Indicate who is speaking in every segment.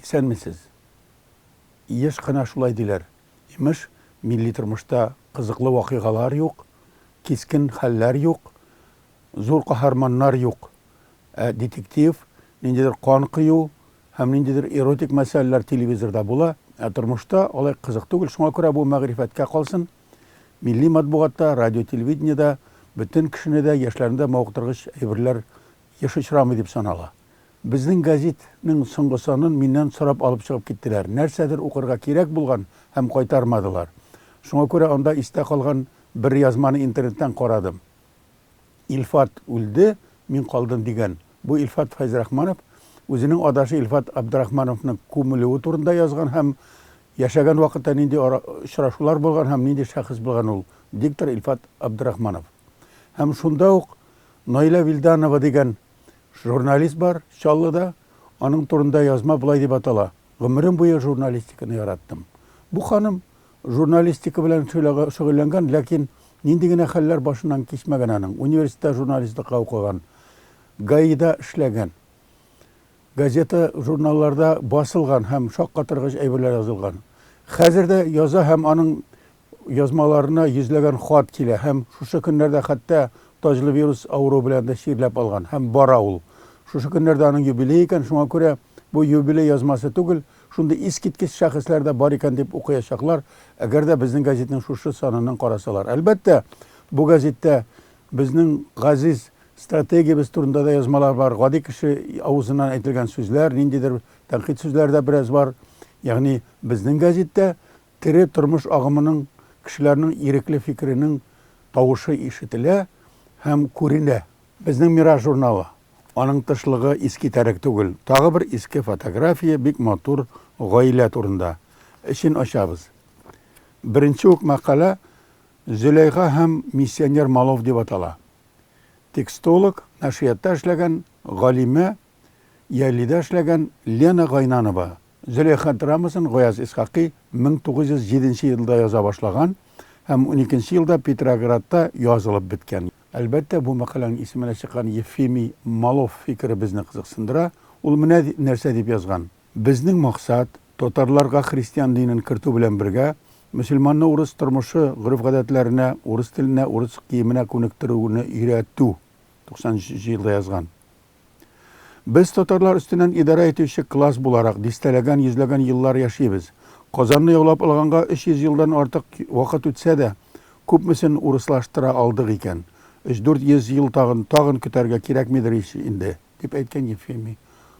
Speaker 1: Исәнмесез. Еш кына шулай диләр. Имеш, милли тормышта кызыклы вакыйгалар юк, кискен хәлләр юк, зур каһарманнар юк. Ә детектив, ниндидер кан кыю һәм ниндидер эротик мәсьәләләр телевизорда була, ә тормышта алай кызык түгел. Шуңа күрә бу мәгърифәткә калсын. Милли матбугатта, радио-телевидениедә бөтен кешене дә яшьләрендә мавыктыргыч әйберләр еш очрамый дип санала. Безнең гәзит нең соңгы санын миннән сорап алып чыгып киттеләр. Нәрсәдер укырга кирәк булган һәм кайтармадылар. Шуңа күрә анда истә калган бер язманы интернеттан карадым. Илфат үлде, мин калдым, дигән бу Илфат Фәйзрахманов үзенең адашы Илфат Абдрахмановның күмелүе турында язган һәм яшәгән вакытта нинди очрашулар булган һәм нинди шәхес булган ул диктор Илфат Абдрахманов. Һәм шунда ук Наилә Вилданова дигән журналист бар Чаллыда, аның турында язма болай дип атала, Гомерем буе журналистиканы яраттым. Бу ханым Журналистика белән шөгыльләнгән, ләкин нинди генә хәлләр башыннан кичмәгән аның. Университетта журналистлыкка укыган, ГАИда эшләгән, газета, журналларда басылган һәм шаккатыргыч әйберләр язылган. Хәзер дә яза һәм аның язмаларына йөзләгән хат килә һәм шушы көннәрдә хәтта таҗлы вирус авыруы белән дә чирләп алган һәм бара ул. Шушы көннәрдә аның юбилее икән, шуңа күрә бу юбилей язмасы түгел, Шундый искиткеч шәхесләр дә бар икән дип укыячаклар, әгәр дә безнең газетның шушы санынын карасалар. Әлбәттә, бу газеттә безнең газиз стратегиябез турында да язмалар бар, гади кеше авызыннан әйтелгән сүзләр, ниндидер тәнкыйть сүзләре дә бераз бар. Ягъни безнең газеттә тере тормыш агымының, кешеләрнең ирекле фикеренең тавышы ишетелә һәм күренә. Безнең Мираж журналы. Аның тышлыгы искитәрек түгел. Тагы бер иске фотография бик матур гаилә турында. Эчен ачабыз. Беренче үк мәкалә Зөләйха һәм миссионер Малов дип атала. Текстолог, нәшриятта эшләгән, галимә, Яйлида эшләгән Лена Гайнанова Зөләйха драмасын Гаяз Исхакый 1907 елда яза башлаган һәм уникенче елда Петроградта язылып беткән. Әлбәттә, бу мәкаләнең исеменә чыккан Ефимий Малов фикере безне кызыксындыра. Ул менә нәрсә дип язган, Безнең максат, татарларга христиан динен кертү белән бергә, мөселманны урыс тормышы, гореф-гадәтләренә, урыс теленә, урыс киеменә күнектерүне өйрәтү. 93 нче елда язган. Без татарлар өстеннән идарә итүче класс буларак, дистәләгән, йөзләгән еллар яшибез. Казанны яулап алганга 300 елдан артык вакыт үтсә дә, күпмесен урыслаштыра алдык икән? Өч-дүрт йөз ел тагын, тагын көтәргә кирәкмидер ич инде, дип әйткән Ефимий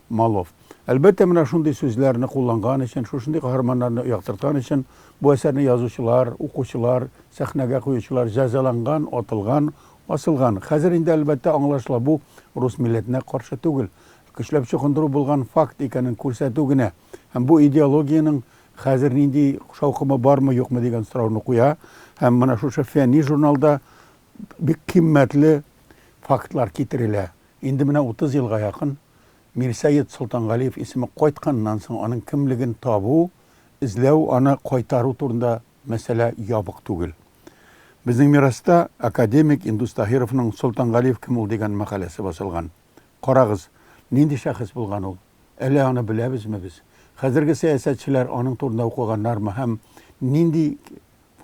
Speaker 1: Малов. Әлбәттә, менә шундый сүзләрне кулланган өчен, шушындый каһарманнарны яктырткан өчен бу әсәрне язучылар, укучылар, сәхнәгә куючылар җәзаланган, атылган, Асылган. Хәзер инде, әлбәттә, аңлашыла, бу рус милләтенә каршы түгел, көчләп чукындыру булган факт икәнен күрсәтү генә. Һәм бу идеологиянең хәзер нинди шаукымы бармы-юкмы дигән сорауны куя. Һәм менә шушы фәнни журналда бик кыйммәтле фактлар китерелә. Инде менә утыз елга якын Мирсәет Солтангалиев исеме кайтканнан соң, аның кемлеген табу, эзләү, аны кайтару турында Мәсьәлә ябык түгел. Безнең мираста академик Индус Таһировның Солтангалиев кем ул дигән мәкаләсе басылган. Карагыз, нинди шәхес булган ул? Әле аны беләбезме без? Хәзерге сәясәтчеләр аның турында укыганнармы һәм нинди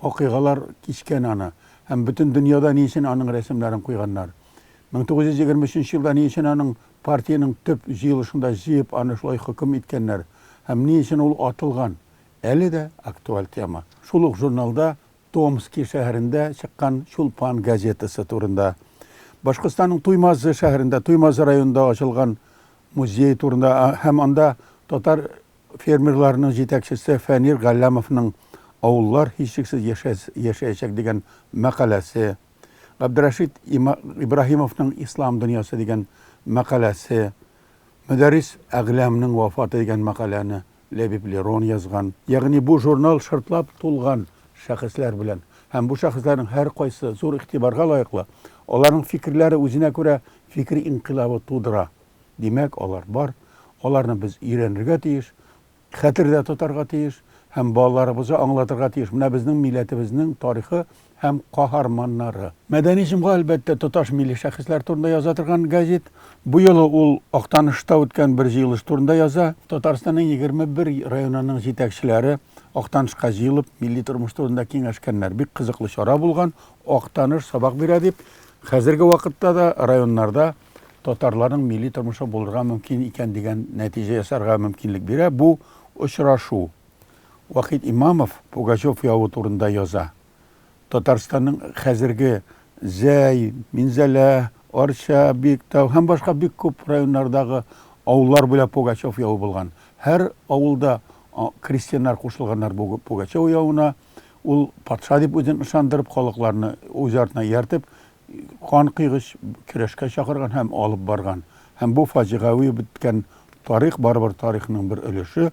Speaker 1: вакыйгалар кичкән аны? Һәм бөтен дөньяда ни өчен аның рәсемнәрен куйганнар? 1923 елда ни өчен аның партиянең төп җыелышында җыеп аны шулай хөкем иткәннәр? Һәм ни өчен ул атылган? Әле дә актуаль тема. Шул ук журналда Томски шәһәрендә чыккан Чулпан газетасы турында, Башкортстанның Туймазы шәһәрендә, Туймазы районында ачылган музей турында һәм анда татар фермерларының җитәкчесе Фәнир Галләмовның Авыллар һичшиксез яшәячәк дигән мәкаләсе, Габдрәшит Ибраһимовның Ислам дөньясы дигән мәкаләсе, Мөдәррис Әгъләмнең вафаты дигән мәкаләне Ләбиб Лерон язган, ягъни бу журнал шартлап тулган шәхесләр белән. Һәм бу шәхесләрнең һәркайсы зур игътибарга лаеклы, аларның фикерләре үзенә күрә фикер инкыйлабы тудыра. Димәк, алар бар, аларны без өйрәнергә тиеш, хәтердә тотарга тиеш һәм балаларыбызга аңлатырга тиеш, менә безнең милләтебезнең тарихы һәм каһарманнары. Мәдәни җомга, әлбәттә, тоташ милли шәхесләр турында яза торган гәзит. Бу юлы ул Актанышта үткән бер җыелыш турында яза. Татарстанның егерме бер районының җитәкчеләре Актанышка җыелып, милли тормыш турында киңәшкәннәр. Бик кызыклы чара булган. Актаныш сабак бирә дип, хәзерге вакытта да районнарда татарларның милли тормышы булырга мөмкин икән дигән нәтиҗә ясарга мөмкинлек бирә бу очрашу. Вахит Имамов Пугачев явы турында яза. Татарстанның хәзерге Зәй, Минзәлә, Арча, Биектау һәм башка бик күп районнардагы авыллар буйлап Пугачев явы булган. Һәр авылда крестьяннар кушылганнар бу Пугачев явына. Ул патша дип үзен ышандырып, халыкларны үз артына ияртеп, кан койгыч көрәшкә чакырган һәм алып барган. Һәм бу фаҗигави үткән тарих барыбер тарихның бер өлеше.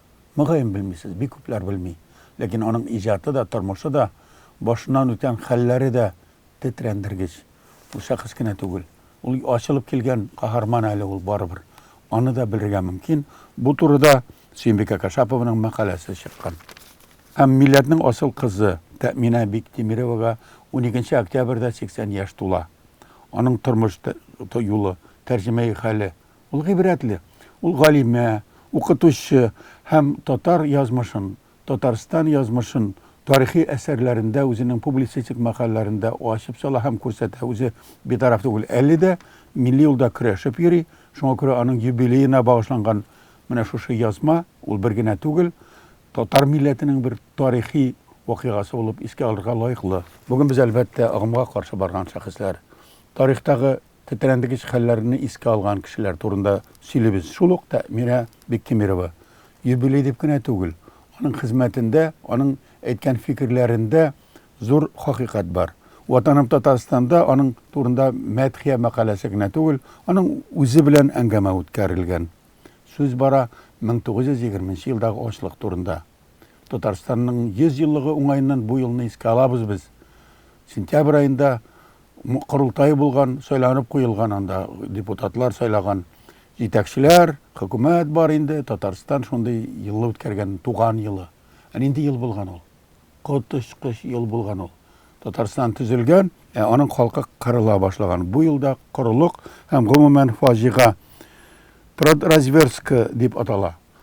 Speaker 1: Мөгаен, белмисез, бик күпләр белми. Ләкин аның иҗаты да, тормышы да, башыннан үткән хәлләре дә тетрәндергеч. Ул шәхес кенә түгел. Ул ачылып килгән каһарман әле ул барыбер. Аны да белергә мөмкин. Бу турыда Сөембикә Кашапованың мәкаләсе чыккан. Һәм милләтнең асыл кызы Тәэминә Биктимеровага уникенче октябрьдә 80 яшь тула. Аның тормыш юлы, тәрҗемәи хәле Ул гыйбрәтле. Ул галимә, укытучы һәм татар язмышын, Татарстан язмышын тарихи әсәрләрендә, үзенең публицистик мәкаләләрендә ачып сала һәм күрсәтә. Үзе битараф түгел. Әле дә милли юлда көрәшеп йөри. Шуңа күрә аның юбилеена багышланган менә шушы язма, ул бер генә түгел, татар милләтенең бер тарихи вакыйгасы булып искә алырга лаеклы. Бүген без, әлбәттә, агымга каршы барган шәхесләр, тарихтагы Тетрәндегеч хәлләрне искә алган кешеләр турында сөйлибез. Шул ук Тәэмирә Биктимирова юбилей дип кенә түгел, аның хезмәтендә, аның әйткән фикерләрендә зур хакыйкать бар. Ватаным Татарстанда аның турында мәдхия мәкаләсе генә түгел, аның үзе белән әңгәмә үткәрелгән. Сүз бара 1920 нче елдагы ачлык турында. Татарстанның 100 еллыгы уңаеннан бу елны искә алабыз без. Сентябрь аенда корылтай булган, сайланып куелган анда депутатлар сайлаган җитәкчеләр, хөкүмәт бар инде. Татарстан шундый елны үткәргән, туган елы. Ә нинди ел булган ул? Коточкыч ел булган ул. Татарстан төзелгән, ә аның халкы кырыла башлаган. Бу елда корылык һәм гомумән фаҗига Продразверстка дип атала.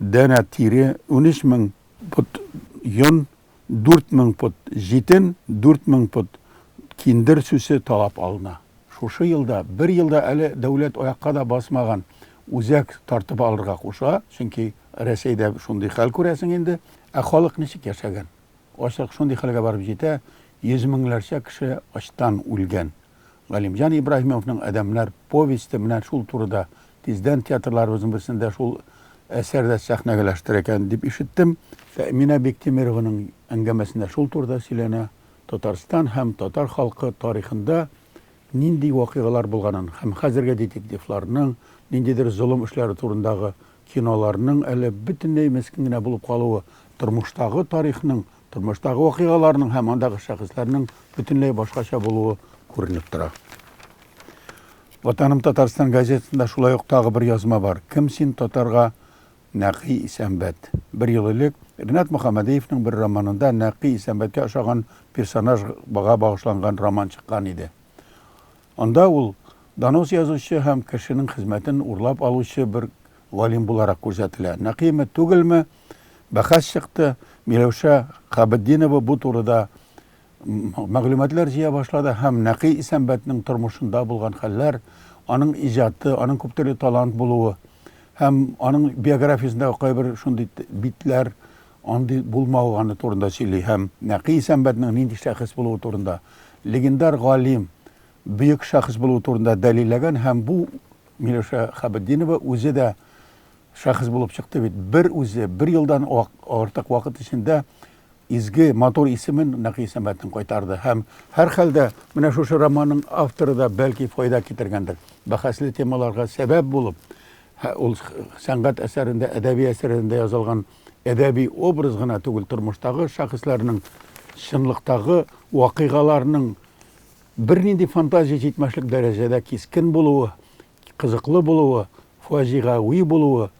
Speaker 1: Данә тире, унөч мең пот йон, дүрт мең пот җитен, дүрт мең пот киндер сүсе талап алына. Шушы елда, бер елда әле дәүләт аякка да басмаган үзәк тартып алырга куша, чөнки Рәсәйдә шундый хәл, күрәсең инде. Ә халык ничек яшәгән? Ачлык шундый хәлгә барып җитә, йөз меңнәрчә кеше ачтан үлгән. Галимҗан Ибраһимовның Адәмнәр повесте менә шул турыда, тиздән театрларыбызның берсендә шул әсәр дә сәхнәгәләштерә икән, дип ишеттем. Фәэминә Биктимерованың әңгәмәсендә шул турыда сөйләнә, Татарстан һәм татар халкы тарихында нинди вакыйгалар булганын һәм хәзерге детективларның ниндидер золым эшләре турындагы киноларның әле бөтенләй мескен генә булып калуы, тормыштагы тарихның Тормыштагы вакыйгаларның һәм андагы шәхесләрнең бөтенләй башкача булуы күренеп тора. Ватаным Татарстан газетасында шулай ук тагы бер язма бар. Кем син татарга Нәкый Исәнбәт. Бер ел элек Ринат Мөхәммәдиевның бер романында Нәкый Исәнбәткә ошаган персонаж бага багышланган роман чыккан иде. Анда ул донос язучы һәм кешенең хезмәтен урлап алучы бер галим буларак күрсәтелә. Нәкыйме, түгелме, бәхәс чыкты. Миләүшә Хабетдинова бу турыда мәгълүматлар җыя башлады һәм Нәкый Исәнбәтнең тормышында булган хәлләр, аның иҗаты, аның күптөрле талант булуы һәм аның биографиясендә кайбер шундый битләр, андый булмаганы турында сөйли һәм Нәкый Исәнбәтнең нинди шәхес булуы турында, легендар галим, бөек шәхес булуы турында дәлилләгән һәм бу Миләүшә Хабетдинова үзе дә Шәхес булып чыкты бит. Бер үзе, бер елдан артык вакыт эчендә изге, матур исемен Нәкый Исәнбәтнең кайтарды. Һәм, һәрхәлдә, менә шушы романның авторы да, бәлки, файда китергәндер. Бәхәсле темаларга сәбәп булып, ул сәнгать әсәрендә, әдәби әсәрендә язылган әдәби образ гына түгел, тормыштагы шәхесләрнең, чынлыктагы вакыйгаларның бернинди фантазия җитмәшлек дәрәҗәдә кискен булуы, кызыклы булуы, фаҗигагуи булуы,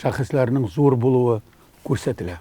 Speaker 1: шәхесләрнең зур булуы күрсәтелә.